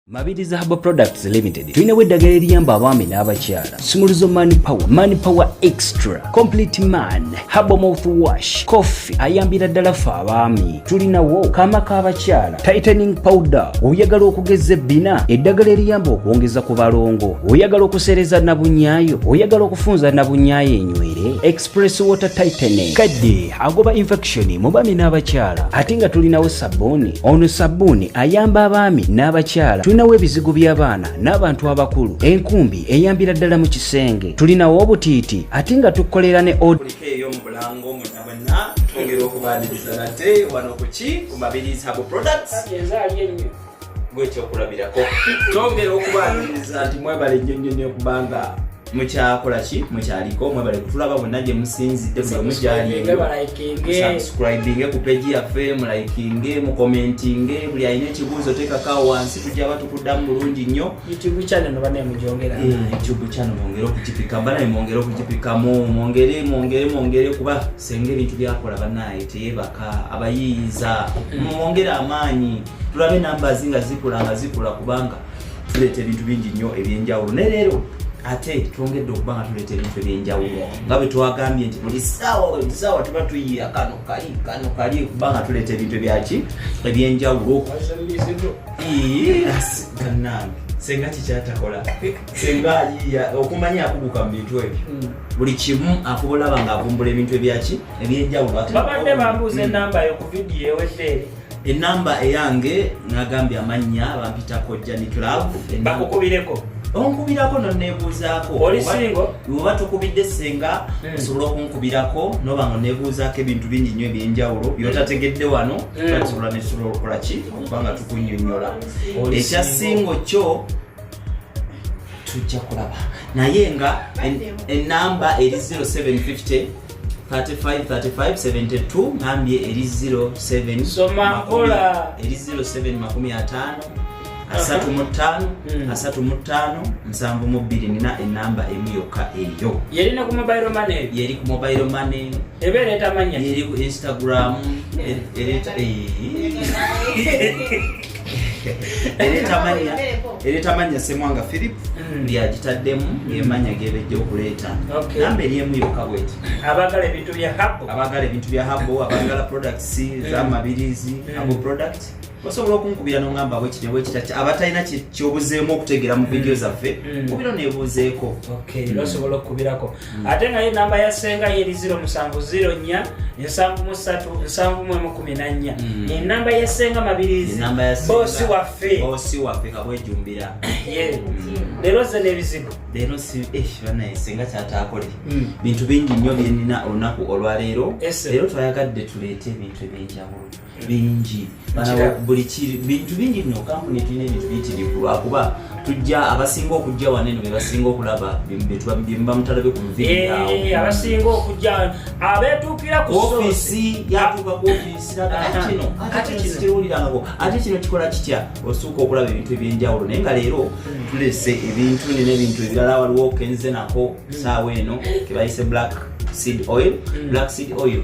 Mabiriza Herbal Products Limited tulinawo eddagala eriyamba abaami n'abakyala sumuluzo man power man power extra complete man herbal mouth wash coffee ayambira ddala ffe abaami tulinawo kaama k'abakyala tightening powder oyagala okugeza ebbina eddagala eriyamba okwongeza ku balongo oyagala okusereza nabunyaayo oyagala okufunza nabunyaayo enywere Press water tightening kadde agoba infection mu baami n'abakyala ate nga tulinawo sabbuuni ono sabbuuni ayamba abaami n'abakyala tulinawo ebizigo by'abaana n'abantu abakulu enkumbi eyambira ddala mu kisenge tulinawo obutiiti ate nga tukolera ne gwekyokulabirako tongera okubaniriza nti mwebale nnyo nnyo nnyo kubanga mukyakola ki mukyaliko mwebale kutulaba bonna gye musinzidde buli omu gyalimusubscribinge ku peji yaffe mulayikinge mukomentinge buli alina ekibuuzo tekakawo wansi tujaba tukuddamu bulungi nnyo youtube channel mwongere okugipika banaye mwongere okugipikamu mwongere mwongere mwongere kuba senga ebintu byakola banaye teyebaka abayiiyiza mm. mwongere amaanyi tulabe numbers nga zikula nga zikula kubanga tuleeta ebintu bingi nnyo ebyenjawulo naye leero ate twongedde okuba nga tuleeta ebintu ebyenjawulo nga bwe twagambye nti buli saawa buli saawa tuba tuyiira kano kali kano kali okuba nga tuleeta ebintu ebyaki ebyenjawulo ganange senga kikyatakola senga ayiya okumanya akuguka mu bintu ebyo hmm. buli kimu akubulaba ng'avumbula ebintu ebyaki ebyenjawulo babadde bambuuza enamba yo ku vidiyo eweddeeri enamba eyange nagambye amannya bampita kojja ni club bakukubireko onkubirako nonebuuzaako oba tukubidde senga hmm. osobola okunkubirako noba nga onebuuzaako ebintu bingi nyo ebyenjawulo hmm. byotategedde wano hmm. tusobola netusobola okukola ki okuba nga tukunyonyola ekyasingo kyo tujja kulaba naye nga enamba eri 0750 353572 nambye eri 0775 asatu mu ttaano hmm. asatu mu ttaano nsanvu mu bbiri nina enamba emu yokka eyo yeri ku mobile money yeri ku mobile money eba ereeta manya yeri ku instagram hmm. ereeta eh. eretamanya semwanga philip mm. lyagitaddemu emanya gebejja okuleeta namba eri emu yokka bweti abagala ebintu bya habo abagala ebintu bya habo abagala products mm. zamabirizi mm. abo product osobola okunkubira nongamba bwekiti bwekita abatalina kyobuzeemu okutegeera mu vidiyo zaffe kubiro nebuuzeeko osobola okukubirako hmm. ate nga ye namba ya senga yeri 0 musanvu 0 nya nsanvu mu satu nsanvu mu emu kumi na nnya hmm. enamba ya senga mabirizi bosi waffe bosi waffe kabwejumbira hmm. leero ze n'ebizibu leero eh, banaye senga kyataakole bintu bingi nnyo byenina olunaku olwaleero leero twayagadde tuleete ebintu ebyenjawulo bingi buli bintu bingi nno kampuni tulina ebintu biyitirivu lwakuba tujja abasinga okujja wano eno bebasinga okulaba byemubamutalabe ku muviawo eh, abasinga okujja abetuukira ku ofisi yatuuka ku ofisi kino ate kino kiwulirangako ate kino kikola kitya osuuka okulaba ebintu ebyenjawulo naye nga leero hmm. tulese ebintu nina ebintu ebirala waliwo kenze nako saawa eno kebayise black seed oil hmm. black seed oil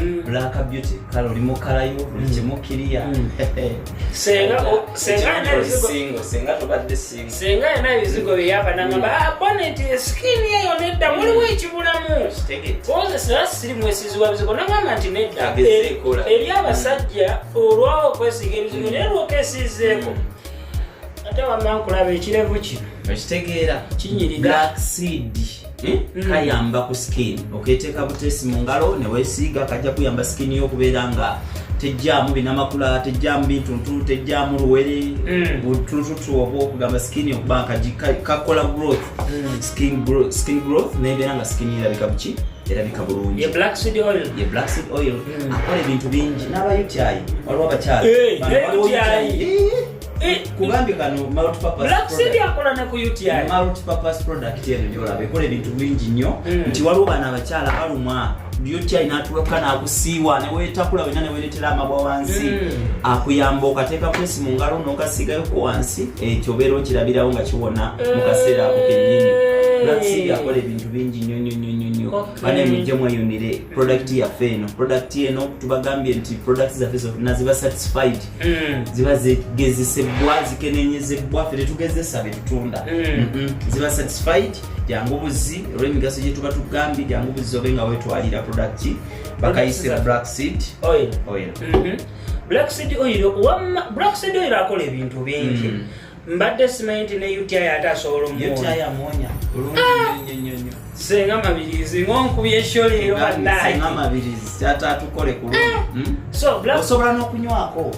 Mm. black beauty kale oli mukalayo buli mm. kimu kiriya mm. senga yena ebizigo byeyava nangamba ah, boneti eskini eyo nedda muliwo ekibulamu kozesera siri mwesizi wa bizigo nagamba nti nedda eri abasajja olwawo okwesiga ebizigo naye lwokesizeeko ate wamma nkulaba ekirevu kino okitegeera kinyirira black seed Eh? Mm. kayamba ku skin oketeeka buteesi mu ngalo newesiiga kajja kuyamba skin yo okubeera nga tejjaamu binamakula tejjaamu bintuntu tejjaamu luwere mm. butuntutu oba okugamba skin okuba kakola growth mm. skin growth nebeera nga skin erabika buki erabika bulungi black seed oil akola ebintu bingi n'abayutyayi waliwo abakyala Eh, kugambye kano multipurpose product eno gyolaba ekola ebintu bingi nnyo hmm. nti waliwo bana abakyala balumwa uti natuloka nakusiiwa newetakula wena neweretera amabwa wansi hmm. akuyamba okateeka kwesi mu ngalo nokasigayoko wansi ekyo obeera okirabirawo nga kiwona mu kaseera ako kenyini eh. black seed akola ebintu bingi nnyo nnyo nnyo nnyo bana emujje mweyunire product yaffe eno product eno tubagambye nti product zaffe zonna ziba satisfied mm. ziba zigezesebbwa zikenenyezebwa fe tetugezesa betutunda mm. ziba satisfied jangu buzzi olwemigaso gyetuba tugambye jangu buzzi obe nga wetwalira product bakayisira black seed oil, oil. Mm -hmm. black seed oil wamma black seed oil akola ebintu bingi mm. mbadde simanyi nti ne uti ate asobola omuwonya senga mabirizi ngonkubye esholeero banayeatatukole kulosobola nokunywako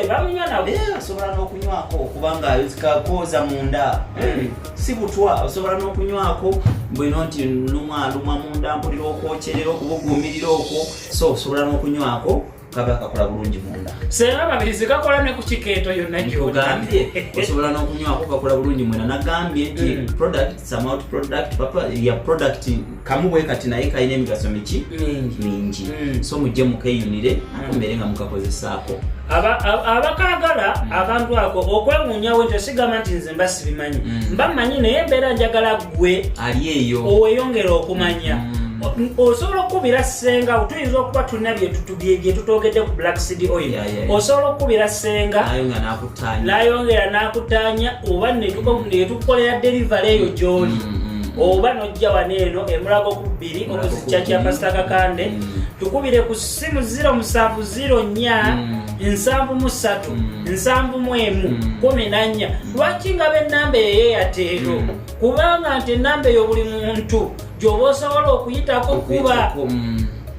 bamunywa naosobola nokunywako kubanga kakooza munda hmm. si butwa osobola nokunywako bwino nti lumwa lumwa munda mpulira okwokyerera okubugumirira okwo so osobola nokunywako kaba kakola bulungi munda sera babirizi kakola ne kukikeeto yonna gyogambye osobola n'okunywako kakola bulungi mwena nagambye nti mm. product some out product papa ya product kamu bwe kati naye kalina emigaso miki mingi mm. so mujje mukeyunire mm. akomere nga mukakozesaako abakagala abantu ako okwewunyawo nti osigamba nti nze mba sibimanyi mba manyi naye mbeera njagala gwe ali eyo oweyongera okumanya mm. osobola okukubira senga tuyinza okuba tulina byetutogedde ku black cd oil osobola okukubira senga nayongera nakutanya oba netukukolera delivery eyo gyoli mm, mm, mm. oba nojja wano eno emulago ku bbiri okuzikya kya pasita kakande tukubire ku simu 0704 mm. nsanvu mu ssatu mm. nsanvu mu emu mm. kumi na nnya lwaki nga b'ennamba eyo eyateero kubanga nti ennamba eyo buli muntu gyoba osobola okuyitako kuba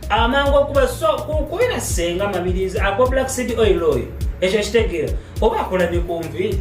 amangu okuba so kubera senga mabirizi akwa black city oil oyo ekyo kitegeera oba akola ne ku nviiri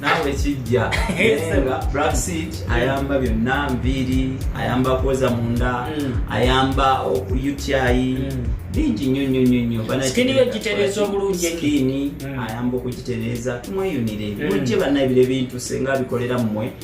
naawe kijja nga black seed ayamba byonna nviiri ayamba kwoza munda mm. ayamba okuyutyayi mm. bingi nnyo nnyo nnyo nnyo sikini yo gitereeza obulungi sikini mm. ayamba okugitereeza tumweyunire mujje bannabire bintu senga bikolera mmwe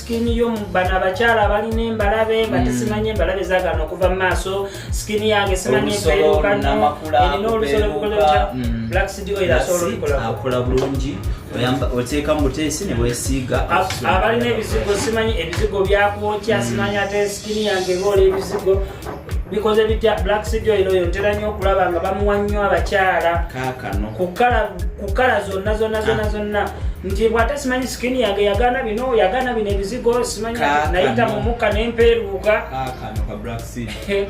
sikini yo bano abakyala balina embalabe nga mm. tesimanyi embalabe zagana okuva mu maaso sikini yange simanyi epeerukano erina olusolo lukoleta mm. black city oil asobola olikola akola bulungi oteeka mu buteesi ne bwesiiga abalina ebizigo simanyi ebizigo byakwokya mm. simanyi ate sikini yange eboola ebizigo bikoze bitya black city oil oyo ntera nnyo okulaba nga bamuwa nnyo abakyala kakano kukala zonna zonna zonna ah. zonna nti bwate simanyi sikini yange yagana bino yagana bino ebizigo simanyi nayita mu mukka nempeeruuka kakano ka black city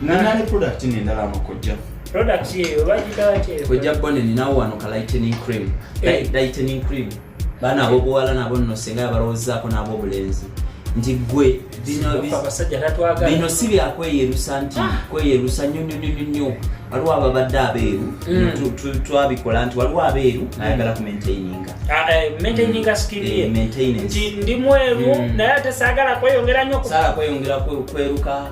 nanani product nendala amakojja product yeyo bagitawakyeyo kojja bone ninawo wano ka lightening cream eh. lightening cream baana abobuwala nabo nno singa yabalowoozaako n'abobulenzi nti gwe bino si byakweyerusa nti ah. kweyerusa nyo nyo nyo nyo waliwo ababadde abeeru mm. twabikola nti waliwo abeeru mm. ayagala ku maintaininga ah, eh, maintaininga skillie eh, ndi mweru mm. naye ate saagala kweyongera nyo saala kweyongera kweruka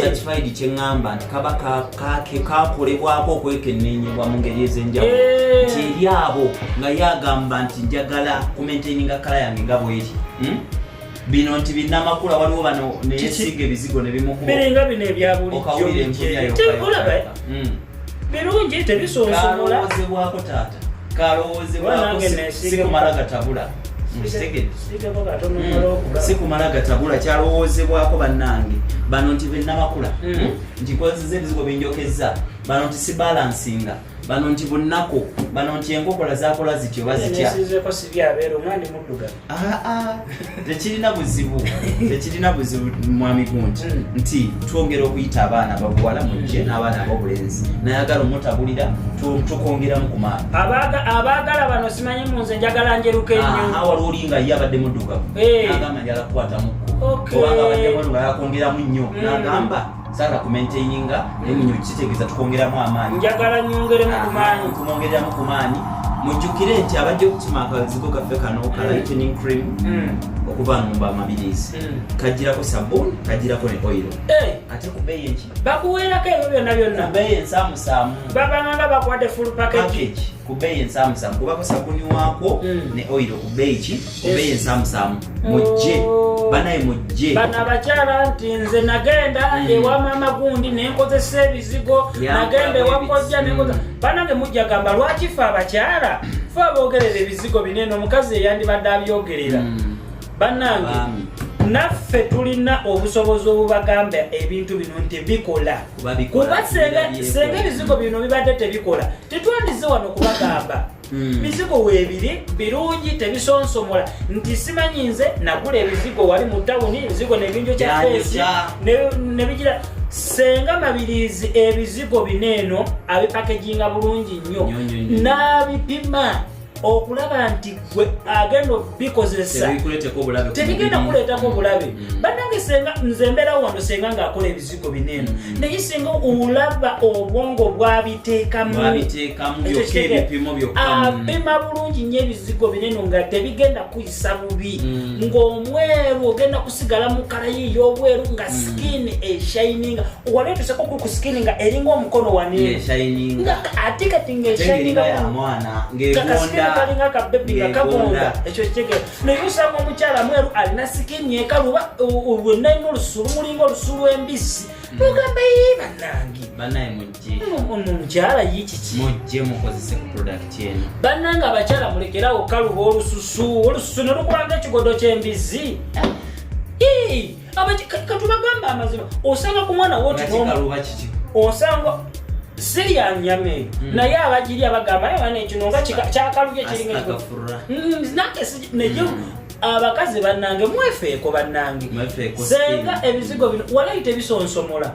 satisfied kyeŋŋamba nti kaba kakolebwako okwekennenyebwa mu ngeri ez'enjawulo nti eri abo nga ye agamba nti njagala kumentaininga kala yange nga bweri hmm? bino nti binamakula waliwo bano neyesiga ebizigo nebimukuba biringa bino ebyabulijjo okawulira enkuyayo birungi tebisonsomola kalowozebwako taata kalowozebwako sikumala gatabula Mm. sikumala gatabula kyalowoozebwako bannange bano nti benamakula mm. hmm? nti nkozeza ebizigo binjokezza bano nti sibalansinga bano nti bunaku bano nti enkokola zakola zityo bazitya tekirina buzibu tekirina buzibu mwami gunti hmm. nti twongera okuyita abaana babuwala mujje hmm. n'abaana abobulenzi nayagala omutabulira tukongeramu ku maani abaagala bano simanyi mu nze njagala njeruka ennyo waliwo oli nga ye abadde muddugavu eh. nagamba njala kukwatamu kubanga abadde muddugavu akwongeramu nnyo hmm. nagamba saala kumaintaininga naye munyo kitegeeza tukwongeramu amaanyi njagala nyongeremu kumaanyi kumwongeramu ku maanyi mujjukire nti abajja okukima akazigo kaffe kano ka mm. lightening cream mm. okuva numba amabirizi mm. kajirako sabuni kajirako ne oiro eh! ate kubeeyi enki bakuweerako ebyo byonna byonna kubeeyi ensamusaamu babanganga bakwade full package ku bbeeyi ensaamusaamu kubako sabuni waakwo mm. ne oyiro ku bbeeyi ki ku bbeeyi ensaamusaamu mujje oh. banaye mujje bano abakyala nti nze nagenda mm. ewa maama gundi nenkozesa ebizigo nagenda ewakojja nenkoza mm. banange mujja gamba lwaki fe abakyala fe abogerera ebizigo binene omukazi eyandibadde abyogerera banange naffe tulina obusobozi obubagamba ebintu bino nti bikola kuba senga ebizigo bino bibadde tebikola tetwandize wano kubagamba hmm. bizigo webiri birungi tebisonsomola nti simanyi nze nagula ebizigo wali mu tawuni ebizigo nebinjo kyafeesi nebigira senga mabirizi ebizigo bino eno abipakeginga bulungi nnyo n'abipima okulaba nti gwe agenda okubikozesa tebigenda kuleetako bulabe mm. banange senga nze mbeerawo wano senga ng'akola ebizigo bineeno mm. naye senga olaba obwongo bwabiteekamu apima bulungi nyo ebizigo bineeno nga tebigenda kisa bubi mm. ng'omweru ogenda kusigala mu kala yiiyo obweru nga mm. skin eshininga wali otuseko ku skin nga eringa omukono waninga ate kati ngaeshiningalinga kabebi nga kabonda ekyo kigera naye osanga omukyala mweru alina skin ekaluba lwenalina olusu lumulinga olusu lw'embizzi nogamba mm. ye banange mukyala yikiki mujje mukozese ku product eno bannanga abakyala mulekerawo kaluba olususu olususu ne lukulanga ekigodo ky'embizzi katubagamba amazima osanga ku mwana woti osanga siri ya nyama eyo hmm. naye abagiri abagamba naye wana ekino nga kyakalubye kiringa hmm, nake naye hmm. abakazi bannange mwefeeko bannange senga ebizigo bino walayi tebisonsomola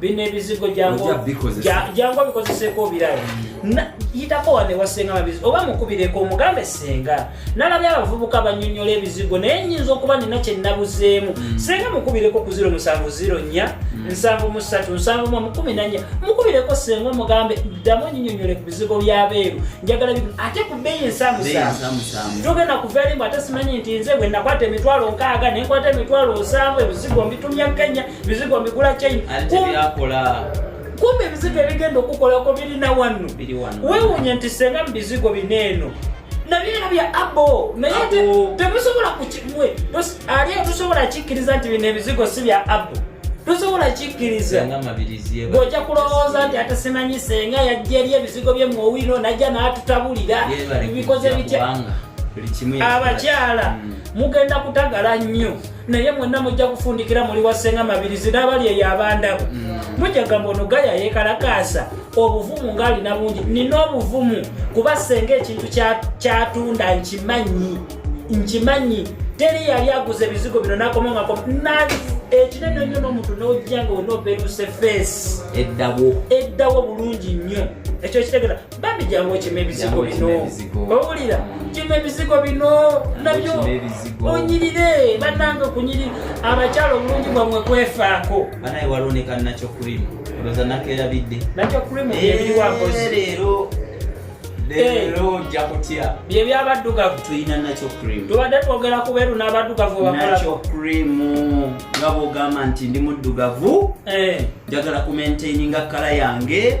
bino ebizigo jangu obikozeseko obirayo yitako wane wasenga mabizi oba mukubireko omugambe senga nalabye abavubuka banyonyola ebizigo naye nyinza okuba nina kyenabuzeemu mm. senga mukubireko ku ziro musanvu ziro nya mm. nsanvu musatu nsanvu mwa mukumi nanya mukubireko senga omugambe ddamu nyinyonyole ku bizigo byabeeru njagala bi ate ku bbeeyi nsamusamu togenda kuvaerimu ate simanyi nti nze bwe nakwata emitwalo nkaaga nenkwata emitwalo nsanvu ebizigo mbitumya kenya bizigo mbigula china kumbe ebizigo ebigenda okukolako birina wano wewunya nti senga mubizigo bina eno nabyera bya abo naye temusobola kukimwe ali tusobola kikkiriza nti bino ebizigo si bya abo tosobola kikkiriza ng'ojja kulowooza nti ate simanyi senga yajja eri ebizigo bye muowino najja n'atutabulira bikoze bitya abakyala hmm. mugenda kutagala nnyo naye mwenna mujja kufundikira muli wasenga mabirizi n'abali eyo abandabo mm. mujja gamba ono gaya yekalakaasa obuvumu ng'alina bungi nina obuvumu kuba senga ekintu kyatunda nkimanyi nkimanyi teri yali aguza ebizigo bino nakoma nga ekinene nnyo n'omuntu n'ojja nga onaobeeruse feesi eddawo eddawo bulungi nnyo ekyo kitegera bambi jangu okima ebizigo bino owulira kima ebizigo bino nabyo onyirire banange okunyiri abakyala obulungi bwamwe kwefaako banaye waloneka nakyo krimu olwoza nakerabidde nakyo krimu ebiwakoleero leero ojja kutya bye byabaddugavu tulina nakyo krimu tubadde twogera ku beeru n'abaddugavu bakolaakyo krimu nga bwogamba nti ndi muddugavu eh. njagala kumentaininga kala yange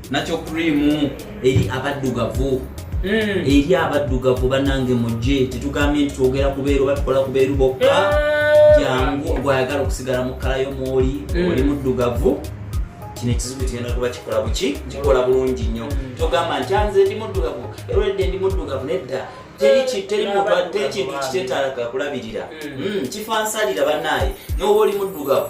nakyo krimu eri abaddugavu mm. eri abaddugavu banange mujje tetugambye nti twogera kubeeru oba tukola kubeeru bokka eh. jangu gwayagala okusigala mu kkala yo mwoli mm. oli muddugavu kino ekizibu tugenda kuba kikola buki kikola bulungi nnyo mm. togamba nti anze ndi muddugavu eredde ndi muddugavu nedda tekintu kitetalaka kulabirira kifansalira banaye noba oli muddugavu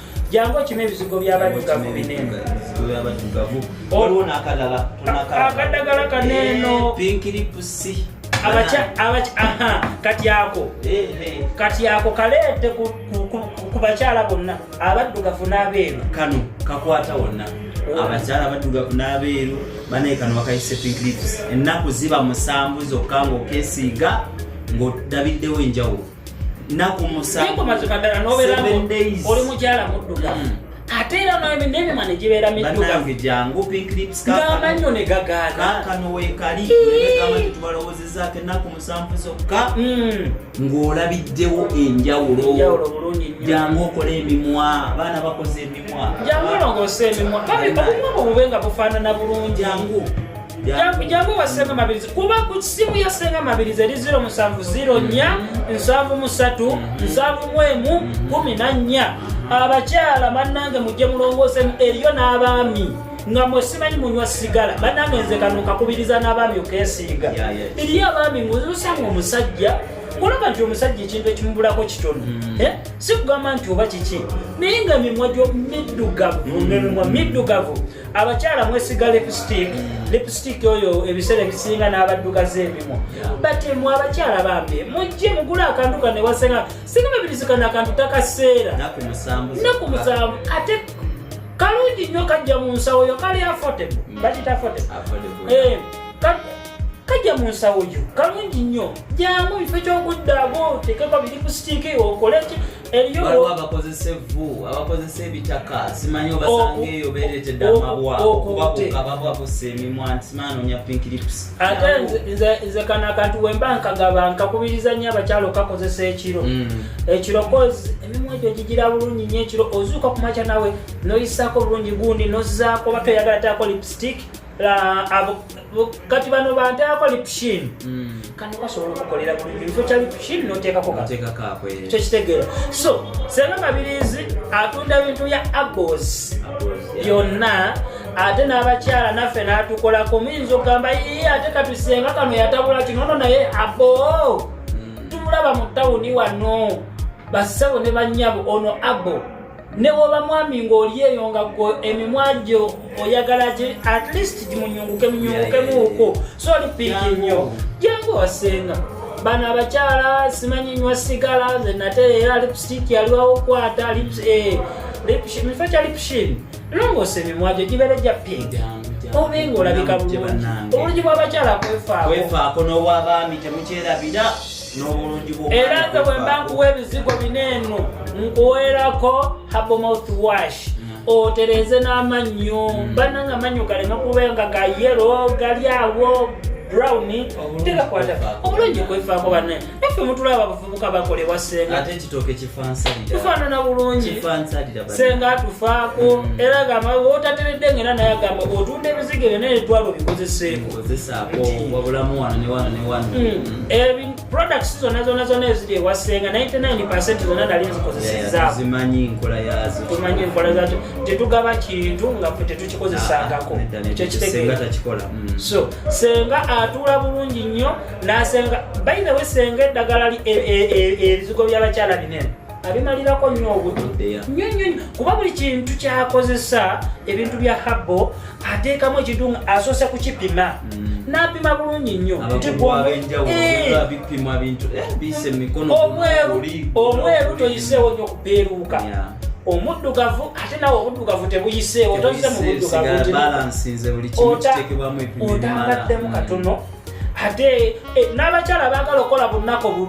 jangu okima ebizigo byabaddugavu bineeno akadagala kaneeno kati ako kati ako kaleete ku bakyala bonna abaddugavu n'abeeru kano kakwata wonna abakyala abaddugavu n'abeeru banaye kano bakayise pinklips ennaku ziba musanvu zokka ng'okesiiga ng'odabiddewo enjawulo oli mukyala muddugavu mm. ate era nemima negibeera middugavugaamanyo negagaanaakanowekalitubalowozezako enaku musanvu zokka mm. ng'olabiddewo enjawulo jangu okole emimwa abaana bakoze emimwa jangu olongose emimwa obumwa bwobube nga bufaanana bulungi jangu jangu jangu wasenga mabirizi kuba ku simu ya senga mabirizi eri 0 musanvu 0 nya nsanvu musatu nsanvu mwemu kumi na nya abakyala bannange mujje mulongoosemu eriyo n'abaami nga mwe simanyi munywa sigala bannange nze kano kakubiriza n'abaami okesiiga eriyo abaami nguzusanga omusajja olaba nti omusajja ekintu ekimubulako kitono hmm. eh? si kugamba nti oba kiki naye nga mimwa gyo middugavu hmm. nemimwa middugavu abakyala mwesiga lipstick lipstick oyo ebiseera ebisinga n'abaddugaza ebimu bati mwe abakyala bambi mujje mugula akantu kane wasena singa babirizikana akantu takaseera naku musanvu ate kalungi nnyo kajja mu nsawo yo kali affordable mm. bakita affordable eh, kajja mu nsawo yo kalungi nnyo jamu bifo ky'okuddaago otekeko biri ku sitiiki okoleki waliwo abakozesa evvu abakozesa ebitaka simanyi obasanga eyo beretedde amabwa okubabuka bababusa emimwa nti simanyi nonya pink lips ate nze kano akantu wemba nkagaba nkakubiriza nnyo abakyalo kakozesa ekiro mm. ekiro koz emimwa egyo gigira bulungi nyo ekiro ozuuka kumakya nawe noyisako bulungi gundi nozaako oba toyagala taako lipstick kati bano banteako lipshin hmm. kano kasobola okukolera kifo kya lipshin noteekako kyo kitegeera so senga mabirizi atunda bintu bya abos byonna ate n'abakyala naffe n'atukolako muyinza okugamba ye ate katusenga kano yatabula kinono naye abo hmm. tumulaba mu tawuni wano bassebo ne banyabo ono abo ne woba mwami ng'oli eyo nga gwe emimwa gyo oyagala gi at least gimunyunguke munyungukemuuko so oli piiki nnyo jangu wasenga bano abakyala simanyi nywa sigala nze nate era lipstick yaliwawo okwata eh, mifo kya lipshin longoosa emimwa gyo gibeere gya piiki obe ng'olabika bulungi obulungi bw'abakyala kwefaakokwefaakonobwabaami temukyerabira era nze bwemba nkuwa ebizigo bineeno nkuweerako habomouth wash otereeze n'amannyo hmm. banna nga amannyo galeme kubeera nga ga yero gali awo brown tegakwata obulungi kwefaako banne naffe mutulaba abavubuka bakolewa sengatefaanana bulungi senga atufaako hmm. era gamba otateredde ngaera naye agamba otunda ebizigo ebyo naye twala obikozeseeko Eh, products zona zona zona eziri ewa senga 99 zona nali nzikozesezatumanyi nkola yazo tumanyi nkola zazo tetugaba kintu nga fe tetukikozesangako ah, ah, ekyokitegekikola mm. so senga atuula bulungi nnyo nasenga bayinewe senga eddagala ebizigo e, e, byabakyala binene abimalirako nnyo obudde nnyo nnyo kuba buli kintu kyakozesa ebintu bya habo ateekamu ekintu nga asoose kukipima mm. napima bulungi nnyo omweru toyiseewo nnyo kupeeruuka omuddugavu ate nawe obuddugavu tebuyiseewo toyize mu buddugavuotangaddemu katono ate eh, n'abakyala abaagala okukola bunako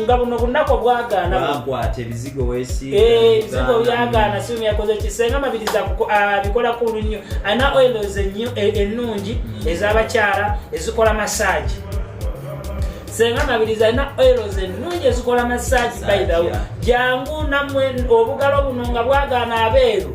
nga buno bunako bwagaanakwata ebizigo wesibizigo eh, byagaana simu yakoze kisenga mabiriza abikola ah, kulu nnyo alina oilos eh, ennungi mm. ez'abakyala ezikola masaagi senga mabiriza alina oilos ennungi ezikola masaagi baidhawo jangu namwe obugalo buno nga bwagaana abeeru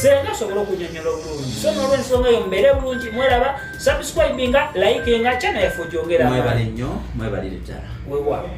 senga asobole okunyonyola obulungi so nolwensonga eyo mubeere bulungi mweraba subscribinga likinga chana yaffe ogyongera mwebale nnyo mwebalire ddala wewa